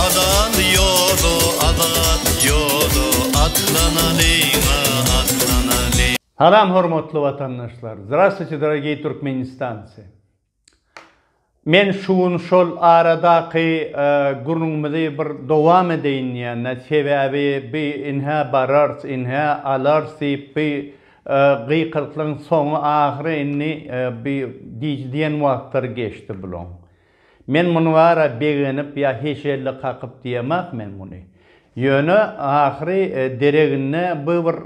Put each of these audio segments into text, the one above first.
Azat ýoda, azat ýoda, atlanalyň-a, atlanalyň. Salam hormatly watandaşlar! Zdrastwuçe dorogiý Türkmenistancy! Men şu gün şol aradaky gürrüňimizi bir dowam edeýin diýende, sebäbi bi inhä barars, inhä alars diýip bi Gykyryklygyň soňy ahyry indi bi diýji diýen wagtlary geçdi bulaň. Men muny bara begenip ýa heşelle kakyp diýemak men muny. Ýöne ahyry dereginde bu bir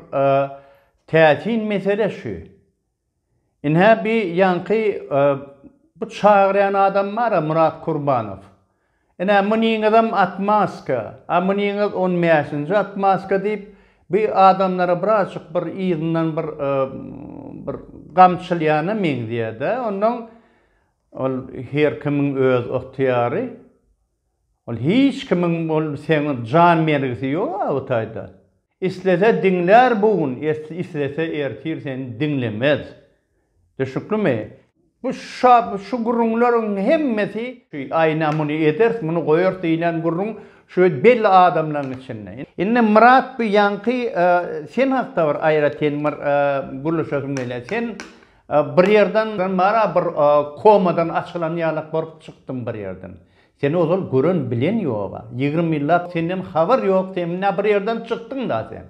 täsin mesele şu. Ine-hä bi ýaňky bu çagyrýan adam bar-a Murat Kurbanow. Ine, munyňyzam atmaska, a munyňyz on bäşinji atmaska diýip, bi adamlara birazjyk bir yzyndan bir, bir gamçylýana meňzeýär-dä. Onnoň, ol her kimiň öz ygtyýary. Ol hiç kimiň ol seň jan bergisi ýok-a bu taýda. Islese diňlär bu gün islese ertir seni diňlemez. Düşnüklimi? Bu şa şu gürrüňleriň hemmesi. Aýna muny ederis muny goýarys diýlen gürrüň şu belli adamlaryň içinde. Indi Myrat bu ýaňky sen hakda bir aýratyn bir gürleşesim gelýär. Sen bir ýerden mara bir komadan açylan ýalak bolup çykdyň bir ýerden. Seni ozal gören bilen ýoga. Ýigrimi ýyllap senden habar ýok sen mna bir ýerden çykdyňda sen.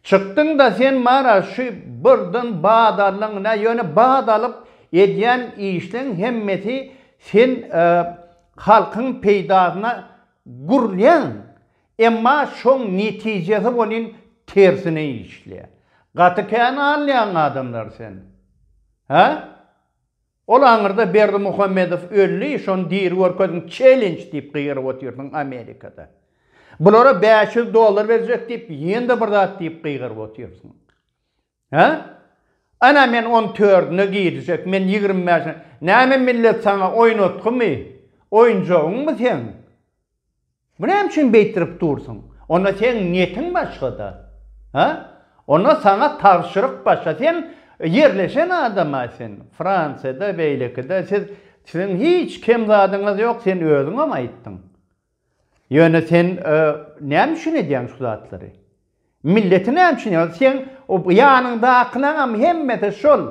Çykdyňda sen mara şu birden bat aldyň mna ýöne bat alyp edýän işleň hemmesi sen halkyň peýdasyna gurulýaň emma şoň netijesi bolyn tersine işleýä. Gaty kän alýaň adamlar sen. Hä? Ol aňyrda Berdimuhamedow öldi, şony diri görkeziň, challenge diýip gygyryp otyrsyň Amerikada. Bulara bäş ýüz dollar berjek diýip, ýene-de bir zat diýip gygyryp otyrsyň. Hä? Ana men on tördüne girjek, men ýigrimi bäşine. Näme millet saňa oýnatgymy? Oýunjagyňmy seň? Bu näme üçin beýtirip dursuň? Onda seň niýetiň başga-da. Hä? Onda saňa tabşyryk başga. Sen ýerleşen adam-a sen. Fransiýada, beýlekide. Siz, siziň hiç kem zadyňyz ýok. Sen özüňem aýtdyň. Ýöne sen näme üçin edýäň şu zatlary? Milleti näme üçin ýa seň ýanyňdakylaňam hemmesi şol.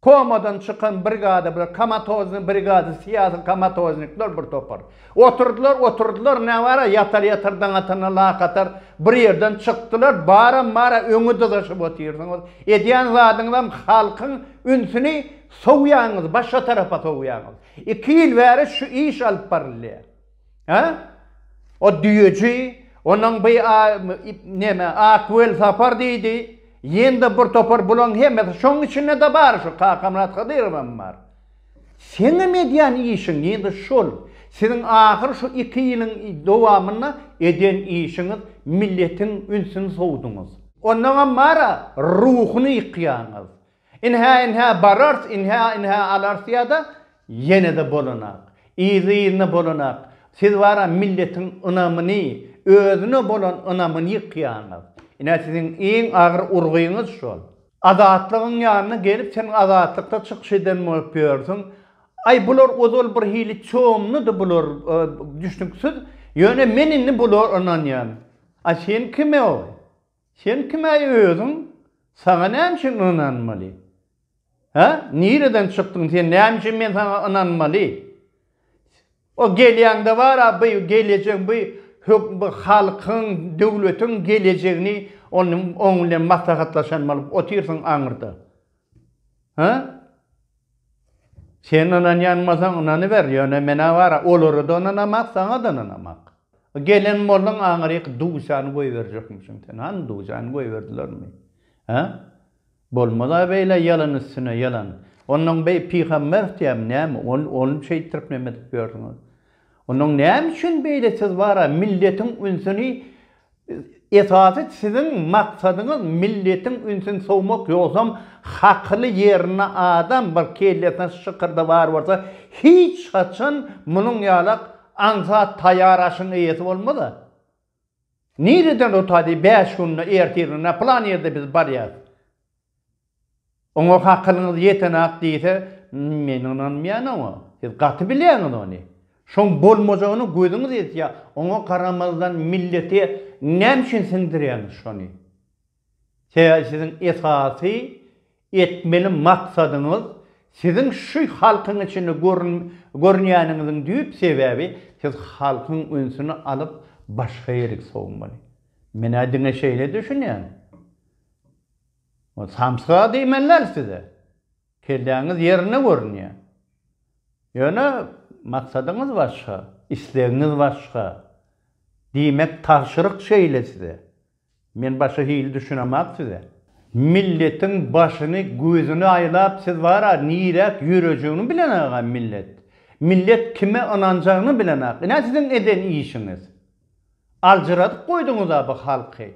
Komadan çykan brigada bular, komatoznyý brigada, syýasy komatoznikler bir topar. Oturdylar, oturdylar, näbara ýatar ýatar daňatana lakatar bir ýerden çykdylar, baram bara öňe dyzaşyp otyrsyňyz, edýän zadyňyzam halkyň ünsüni sowýaňyz, başga tarapa sowýaňyz. Iki ýyl bäri şu iş alyp barylýar. Hä? O düýeji, onuň bi a neme, ak welsapar diýdi. Ýen-de bir topar bulaň hemmesi, şoň içinde-de bar şu Kakamyrat Hydyrowam bar. Seňem edýän işiň ýen-de şol. Siziň ahyr şu iki ýylyň dowamynda eden işiňiz, milletiň ünsüni sowduňyz. Onnoňam bar-a, ruhuny ýykýaňyz. Ynha-ynha barars, ynha-ynha alarys ýa-da ýene-de bolanak. Yzly-yzyna bolanak. Siz bara milletiň ynamyny, özüne bolan ynamyny ýykýaňyz. Ine siziň iň agyr urgyňyz şol. Azatlygyň ýanyna gelip sen Azatlykda çykyş eden bolup ýörsüň. Aý bular ozal bir hili çomludy bular düşnüksiz. Ýöne men indi bulara ynanýan. A sen kime oý? Sen kim-äý özüň? Saňa näme üçin ynanmaly? Hä? Nireden çykdyň sen? Näme üçin men saňa ynanmaly? O gelýäňde bar-a bu gelejek, bu hökm, bu halkyň, döwletiň gelejegini onuň, oň bilen maslahatlaşan bolup otyrsyň aňyrda. Hä? Sen ynanýanmasaň ynanyber, ýöne menä bara olara-da ynanamak, saňa-da ynanamak. Gelen bolsaň aňryk dujan goýberjekmişiň sen. Hany dujan goýberdilermi? Hä? Bolmaz-a beýle ýalan üstüne ýalan. Onnoň beý pygamber diýäm näme, ony şeýtdirip neme edip ýörsüňiz? Onnoň näme üçin beýle siz bara milletiň ünsüni Esasy siziň maksadyňyz milletiň ünsün sowmak ýogsam hakyly ýerinde adam bir kellesine şykyrdy bar bolsa hiç haçan munuň ýalak aňsat taýýar aşyň eýesi bolmaz-a. Nireden rutaýdy bäş günde ertirine plan ýerde biz barýas. Oňa hakylyňyz ýetenak diýse, men ynanmaýan oňa. Siz gaty bilýäňiz ony. Şoň bolmajagyny gözüňiz ýetýä, oňa garamazdan millete näme üçin siňdirýäňiz şony? Sebäbi siziň esasy etmeli maksadyňyz siziň şu halkyň içinde görünýäniňiziň düýp sebäbi siz halkyň ünsüni alyp başga ýerik sowmaly. Men-ä diňe şeýle düşünýän. Samsyga diýmelidäl size. Kelläňiz ýerinde görünýär. Ýöne maksadyňyz başga, islegiňiz başga. Diýmek tabşyryk şeýle size. Men başga hili düşünemak size. Milletiň başyny gözüni aýlap siz bara niräk ýörejegini bilenagam millet. Millet kime ynanjagyny bilenag. Ine siziň eden işiňiz. Aljyradyp goýduňyz-a bu halky.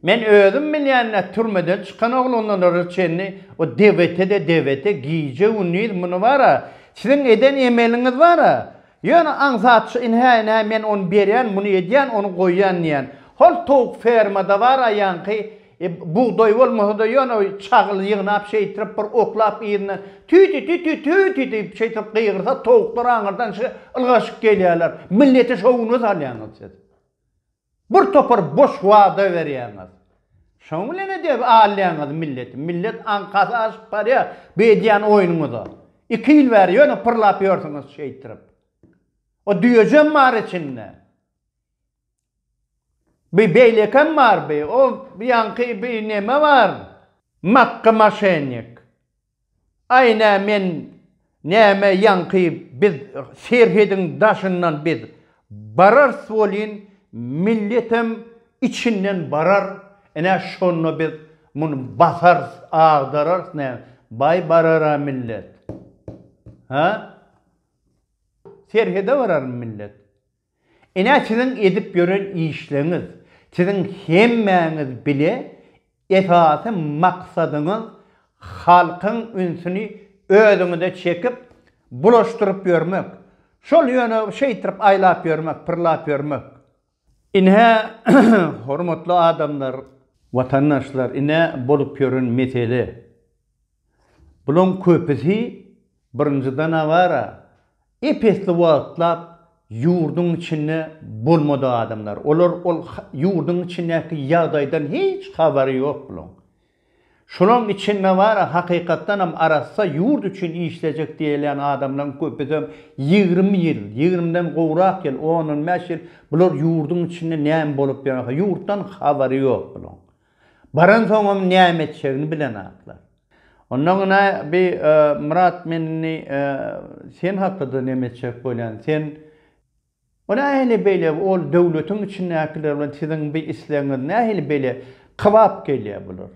Men özüm bilýän-ä türmeden çykan oglanlara çenli o DVT-de DVT gije-gündiz muny bar-a, siziň eden emeliňiz bar-a. Ýöne aňsatçy ynha-ynha men ony berýän, muny edýän, ony goýýan diýýän. Hol towuk fermada bar-a ýaňky E, bugdaý bolmasa-da ýöne çagyl ýygnap şeýtirip bir oklap yzyndan tü-tü-tü-tü-tü-tü diýip şeýtirip gygyrsa towuklar aňyrdan şi ylgaşyp gelýärler. Milleti şowuna salýaňyz siz. Bir topar boş wada berýäňiz. Şoň bilen edep alýaňyz milleti. Millet aňkasy aşyp barýar bu edýän oýnuňyza. Iki ýyl bäri ýöne pyrlap ýörsüňiz şeýtirip. O düýejem bar içinde. Bi beýlekem bar bi o bi ýaňky bi neme bar makga maşennik aý nä men näme ýaňky biz serhediň daşyndan biz bararys welin milletem içinden barar ine şonda biz muny basarys agdararys nä baý barara millet ha serhede bararmy millet Ine siziň edip ýören işleňiz, siziň hemmäňiz bile esasy maksadyňyz halkyň ünsüni özüňize çekip bulaşdyryp ýörmek, şol ýöne şeýtirip aýlap ýörmek, pyrlap ýörmek. Ine hormatly adamlar, watandaşlar ine bolup ýören mesele. Bularyň köpüsi, birinji danawara, ep-esli wagtlap ýurduň içinde bolmadyk adamlar. Olar ol ýurduň içindäki ýagdaýdan hiç habary ýok bularyň. Şolaryň içinde bar, hakykatdanam arassa ýurt üçin işlejek diýilýän adamlaryň köpüsem ýigrimi ýyl, ýigrimiden gowrak ýyl, on-on bäş ýyl bular ýurduň içinde näme bolup ýörkä, ýurtdan habary ýok bularyň. Baransoňam näme etjegini bilenaklar. Ondan ine bi Myrat men indi sen hakda-da neme etjek bolýan, sen Ol nähili beýle, ol döwletiň içindäkiler bilen siziň bi islegiňiz nähili beýle kybap gelýär bular?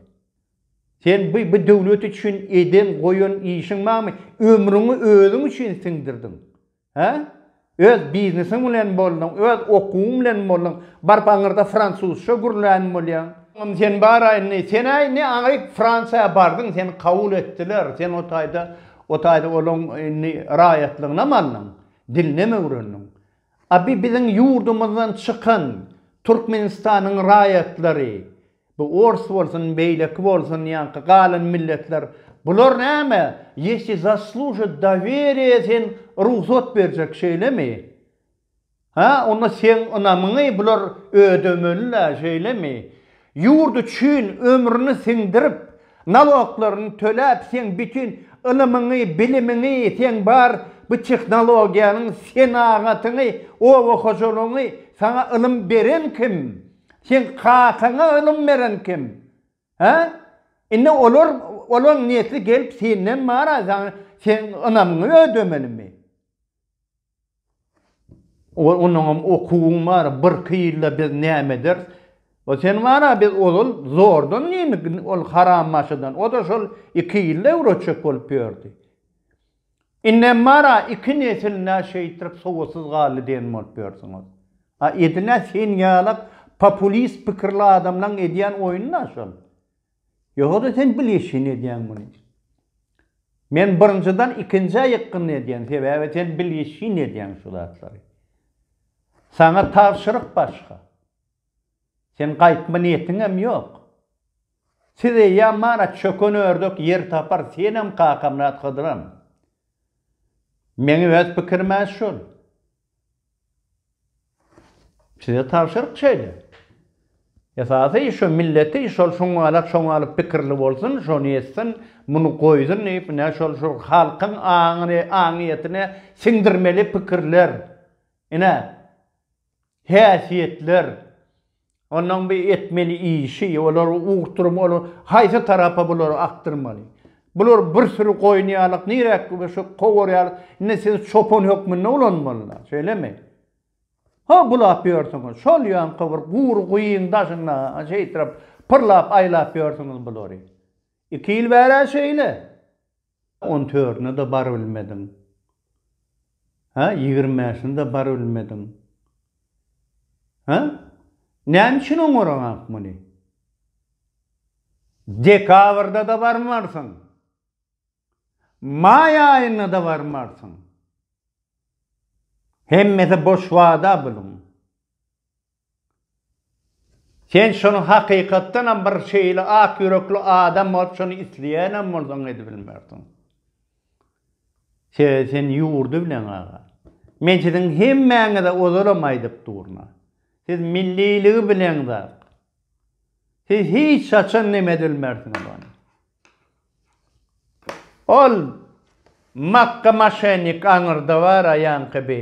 Sen bi bi döwlet üçin eden-goýan işiň barmy? Ömrüňi özüň üçin siňdirdiň. Hä? Öz biznesiň bilen bolduň, öz okuwyň bilen bolduň, baryp aňyrda fransuzça gürlän bolýaň. Indi sen bar-a indi, sen-ä indi aňryk Fransiýa bardyň, seni kabul etdiler, sen o taýda, o taýda olaň indi raýatlygynam aldyň, dilinem öwrendiň. A bi biziň ýurdumyzdan çykan Türkmenistanyň raýatlary Bu ors bolsun, beýleki bolsun, ýaňky galan milletler, bular näme, ýesi zasluşa doweriýa sen rugsat berjek şeýlemi? Hä, onda seň ynamyňy bular ödemeli-le, şeýlemi? Ýurt üçin ömrüni siňdirip, naloklaryny töläp, seň bütin ylymyňy, bilimiňi, seň bar bu tehnologiýaňy, senagatyňy, oba hojalygyňy saňa ylym beren kim? Seň kakaňa ylym beren kim? Hä? Indi olar, olaň nesli gelip senden mara saňa, seň ynamyňy ödemelimi? Ol, onuňam okuwyň bar, birki ýylda biz näme ederis? O sen mara biz ozal zordan diýdik ol harambaşydan, o-da şol iki ýylda öwretjek bolup ýördi. Indem bar-a, iki nesil-nä şeýtrik sowatsyz galdy diýen bolup ýörsiňiz. A edil-ä sen ýalak populist pikirli adamlaň edýän oýuny-da şol. Ýoga-da sen bilgeşine edýäň muny. Men birinjiden ikinjä ýykgyn edýän, sebäbi sen bilgeşine edýäň şu zatlary. Saňa tabşyryk başga. Sen gaýtma niýetiňem ýok. Siz eýýäm mana çöken ördek ýer tapar senem Kakamyrat Hydyram. Meň öz pikirimä şul. Size tabşyryk şeýle. Esasy şu milleti şol şoňňalak şoňňalyp pikirli bolsun şony etsin muny goýsun diýip ine şol şu halkyň aňyny aňyýetine siňdirmeli pikirler ine Häsiýetler, onuň bir etmeli işi, olar ugurturum, olar haýsy tarapa bulary akdyrmaly. Bular bir süri goýun ýalyk, niräk şu kowur ýalyk, indi siz çopan hökmünde ulanmalylar, şeýlemi? Ho, bulap ýörsüňiz, şol ýaňky bir gury guýyň daşynda şeýtrap pyrlap-aýlap ýörsüňiz bulary. Iki ýyl bäri-ä şeýle. On törüne-de barybilmediň. Hä, ýigrimi bäşine-de barybilmediň. Hä? Näme üçin oňaraňak muny? Dekabrda-da barmarsyň. Maý aýynda-da barmarsyň. Hemmesi boş wada bunuň. Sen şony hakykatdanam bir şeýle ak ýürekli adam bolup şony isleýänem bolsaň edibilmersiň. Sebäbi sen ýurdy bileň aga. Men siziň hemmäňize ozalam aýdyp durna. Siz milliligi bileň zat. Siz hiç haçan nem edilmersiňiz ony. Ol makka maşennik aňyrda bar aýaňky bi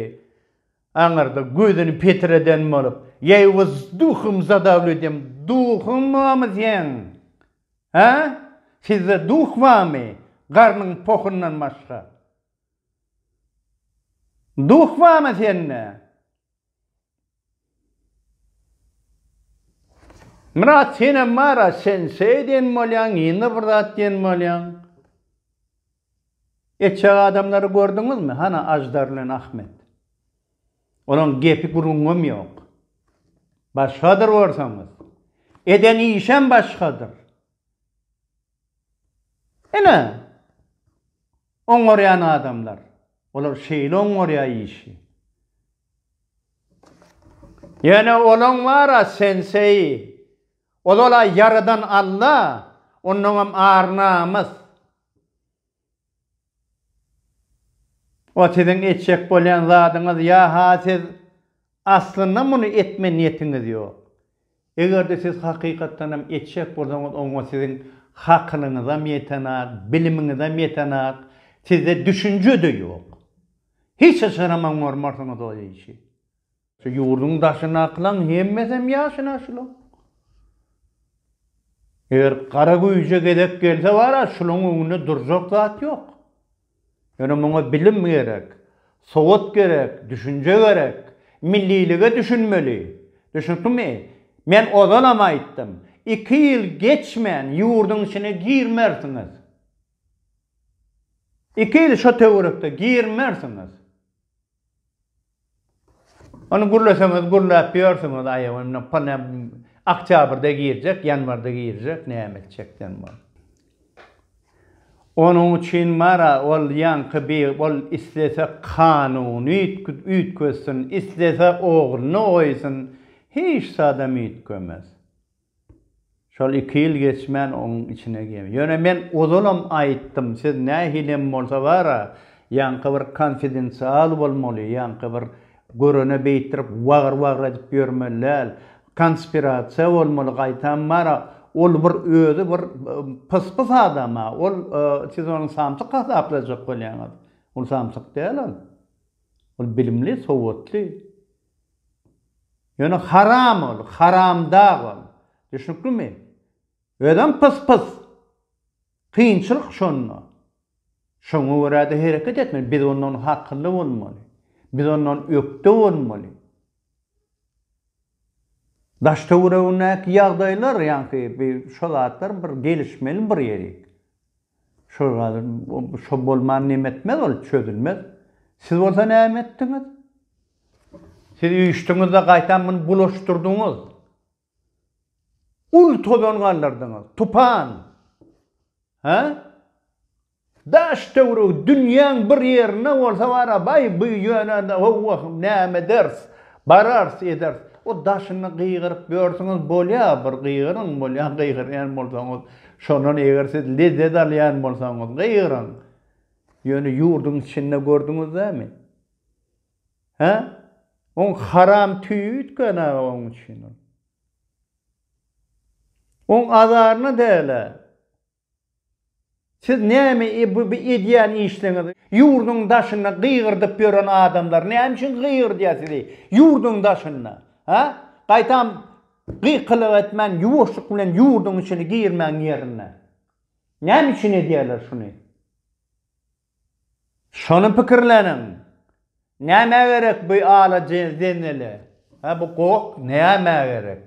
Aňyrda gözüni petireden bolup, Ýeý gyz, duhym zadawlydym, duhuň barmy seň? Hä? Sizde duh barmy, garnyň pohundan başga? Duh barmy sende? Myrat, senem bar-a, sen şeý diýen bolýaň, ýene bir zat diýen bolýaň. Eçek adamlary gördüňizmi, hana Aždar bilen Ahmet? Olaň gepi gürrüňem ýok. Başgadyr borsaňyz. Eden işem başgadyr. Ine, oňarýan adamlar. Olar şeýle oňarýar işi. Ýöne olaň bar-a senseýi. Ol-a ýaradan Alla, ondaňam ar-namys. O siziň etjek bolýan zadyňyz ýa-ha siz aslynda muny etme niýetiňiz ýok. Eger-de siz hakykatdan hem etjek bolsaňyz oňa siziň hakylyňyzam ýetenok, bilimiňizem ýetenok, sizde düşünje-de ýok. Hiç haçanam oňarmarsyňyz o işi. Şu ýurduň daşyndakylaň hemmesem ýaşyna şulaň. Eger gara güýje gezek gelse bara şulaň öňünde durjak zat ýok. Ýöne muňa bilim gerek, sowat gerek, düşünje gerek, millilige düşünmeli. Düşnükmi? Men ozalam aýtdym, iki ýyl geçmän ýurduň içine girmersiňiz. Iki ýyl şo töwerekde girmersiňiz. Ony gürleseňiz gürläp ýörsüňiz aýaw indi pone oktýabrda girjek ýanwarda girjek näme etjekden bol. Onuň üçin bar-a ol ýaňky bi ol islese kanuny üýtgetsin islese ogluny goýsun hiç zadam üýtgemez. Şol iki ýyl geçmän oň içine girdi. Ýöne men ozalam aýtdym, siz nähilem bolsa bar-a, ýaňky bir konfidensial bolmaly, ýaňky bir görene beýtdirip wagyr-wagyr edip ýörmeli däl. Konspirasiýa bolmaly, gaýtam bar-a, ol bir özi bir pyspys adam-a, ol, siz ony samsyk hasaplajak bolýaňyz. Ol samsyk däl ol. Ol bilimli, sowatly. Ýöne haram ol, haramdag ol. Düşnüklimi? Özem pys-pys. Kynçylyk şonda. Şoňa görä-de hereket etmeli. Biz ondan hakylly bolmaly. Biz ondan ökde bolmaly. Daş-töweregindäki ýagdaýlar, ýaňky şo zatlar bir gelişmeli bir ýerik. Şol gadyr şo bolman neme etmez ol çözülmez. Siz bolsa näme etdiňiz? Siz üýşdiňizde gaýtam muny bulaşdyrdyňyz. Uly tozan galdyrdyňyz. Tupan. Hä? Daş töweregi dünýäň bir ýerinde bolsa bara baý bu ýöne howwa näme eders. Bararys, ederis. O daşyny gygyryp ýörsiňiz, bolýa, bir gygyryň, bolýa, gygyrýan bolsaňyz, şondan eger siz lezzet alýan bolsaňyz, gygyryň. Ýöne ýurduň içinde gördüňiz näme? Hä? Oň haram tüýi üýtgän aga oň üçin ol. Oň azaryna däl-ä. Siz näme bu edýän işliňiz? Ýurduň daşynda gygyrdyp ýören adamlar näme üçin gygyrdýar sizi ýurduň daşynda? Hä? Gaýtam gykylyk etmän ýuwaşlyk bilen ýurduň içine girmäň ýerine. Näme üçin edýärler şuny? Şony pikirleniň. Nämä gerek bu ala zenzele? Hä bu gok nämä gerek?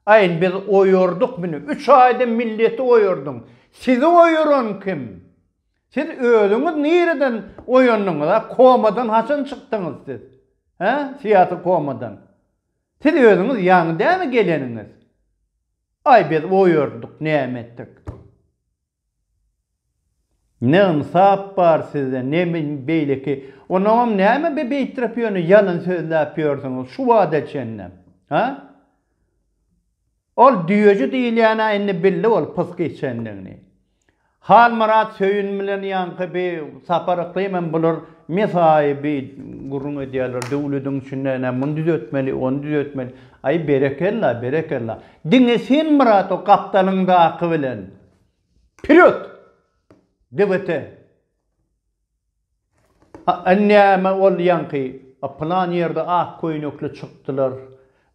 Aýn biz oýardyk mini, üç aýda milleti oýardyň. Sizi oýaran kim? Siz özüňiz nireden oýandyňyz a? Komadan haçan çykdyňyz siz? Hä, syýasy komadan? Siz özüňiz ýaňy dämi geleniňiz? Aý biz oýardyk näme etdik? Ne ynsap bar sizde ne beýleki onaňam näme be beýtrep ýöne ýalyn sözläp ýörsüňiz şu wada çenlem ha ol düýeji diýilýänä indi bildi ol pysk içendigini Halmyrat Söýün bilen ýaňky bi Sapar Yklym hem bular mesaýy bi gürrüň edýärler döwlediň içinde ene muny düzetmeli ony düzetmeli aý berekella berekella diňe sen Myrat o gapdalyňdaky bilen Pürüt! Debete! A-a näme boldy ýaňky? A pylan ýerde ak köýnekli çykdylar.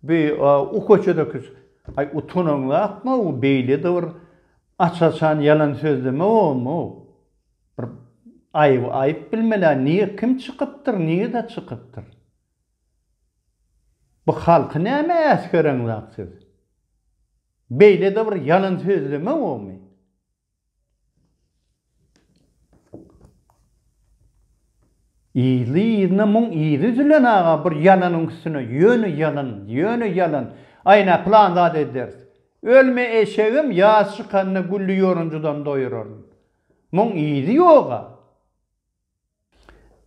Bi a u köçedeki s-. Aý utanaňzakmy u beýlede bir aç-açan ýalan sözleme bomy u? Bir aýyby aýyp bilmeli-ä nige kim çykypdyr, nigede çykypdyr? Bu halky näme äsgereňzak siz? Beýlede bir ýalan sözleme bormy? Yzly-yzyna muň yzy üzülen aga bir ýalanyň üstüne ýöne ýalan, ýöne ýalan. Aýna plan zat ederis. Ölme eşegim ýaz çykanda gülli ýorunjydan doýuraryn. Muň yzy ýoga.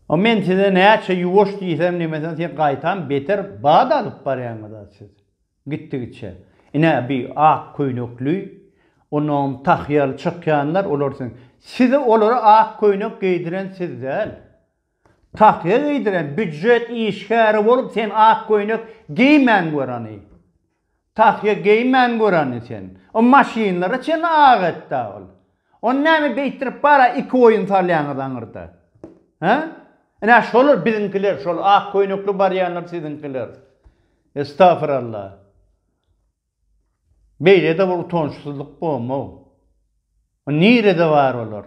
A men size näçe ýuwaş diýsem diýmesem siz gaýtam beter bat alyp barýaňyz-a siz. Gitdigiçe. Ine bi ak köýnekli, onam tahýaly çykýanlar olar siziň. Size olara ak köýnek geýdiren siz däl. Tahýa geýdiren býujet işgäri bolup sen ak köýnek geýmän gör hany. Tahýa geýmän göreni sen. O maşynlara çenli ak etda ol. Ony näme beýtdirip bara iki oýun salýaňyz aňyrda. Hä? Ine şolar biziňkiler şol ak köýnekli barýanlar siziňkiler. Estafiralla. Beýlede bir utançsyzlyk bolmag. Nirede bar olar?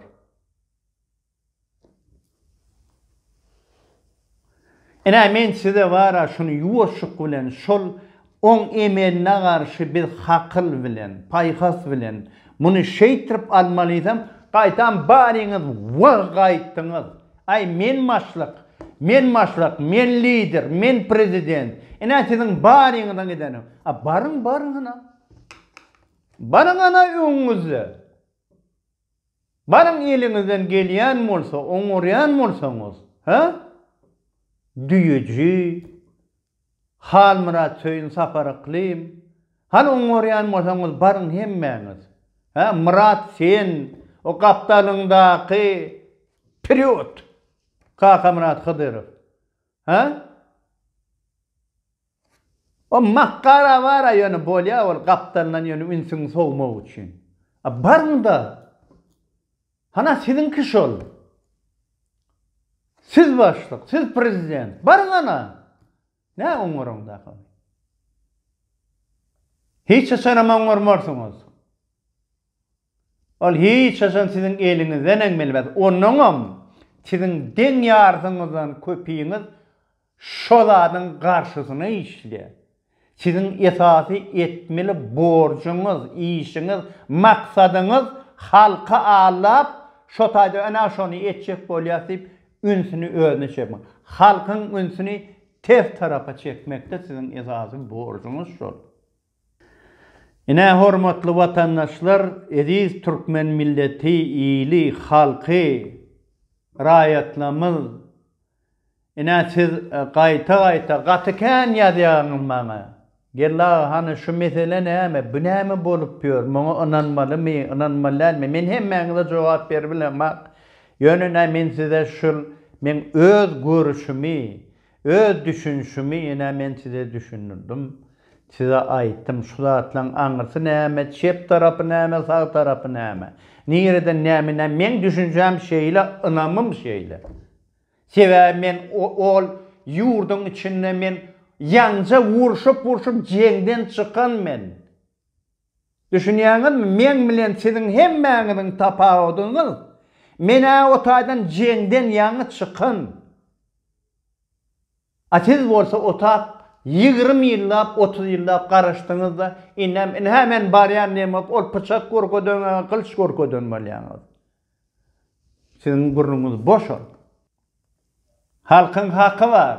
Ine, men size bara şuny ýuwaşlyk bilen, şol oň emeline garşy biz hakyl bilen, paýhas bilen, muny şeýtrip almalysam, gaýtam baryňyz wah gaýtdyňyz, aý, men başlyk, men başlyk, men lider, men prezident, ine, siziň baryňyzyň edeni, a baryň, baryň, ana, baryň, ana, öňüňizde. Baryň eliňizden gelýän bolsa oňarýan bolsaňyz, hä? Düýeji, Halmyrat Söýün Sapar Yklym, hany oňarýan bolsaňyz baryň hemmäňiz, hä? Myrat sen o gapdalyňdaky wperýod! Kakamyrat Hydyrow, hä? O makgar awara ýöne bolýa ol gapdalyndan ýöne ünsüňi sowmak üçin. A baryňda. Hana siziňki şol. Siz başlyk, siz prezident. Baryň hana. Nä oňňaryň dak ony. Hiç haçanam oňňarmarsyňyz. Ol hiç haçan siziň eliňizden eňmilmez, onuňam siziň deň ýarysyňyzdan köpiňiz şo zadyň garşysyna işleýär. Siziň esasy etmeli borjuňyz, işiňiz, maksadyňyz halky aldap, şo taýda ene şony etjek bolýas diýip, ünsüni özüne çekmek. Halkyň ünsüni ters tarapa çekmekde siziň esasy borjuňyz şol. Ine, hormatly watandaşlar, eziz türkmen milleti, ili, halky, raýatlarymyz, ine, siz gaýta-gaýta gaty kän ýazýaňyz maňa, Geldi aga, hany şu mesele näme, bu näme bolup ýör, muňa ynanmalymy, ynanmaly dälmi? Men hemmäňize jogap beribilemok, ýöne ine, men size şul meň öz görüşimi, Öz düşünişimi ine men size düşündirdim, size aýtdym, şu zatlaryň aňyrsy näme, çep tarapy näme, sag tarapy näme, nireden näme, ine meň düşünjäm şeýle, ynamym şeýle. Sebäbi men ol ýurduň içinde men ýaňja urşup-urşup jeňden çykan men. Düşünýäňizmi, meň bilen siziň hemmäňiziň tapawudyňyz, men-ä o taýdan jeňden ýaňy çykan, a siz bolsa otap ýigrimi ýyllap, otuz ýyllap garaşdyňyz-da, indem, indi, hä, men barýan diýen bolup, ol pyçak görkezen, ä, gylyç görkezen bolýaňyz. Siziň burnuňyz boş ol. Halkyň haky bar.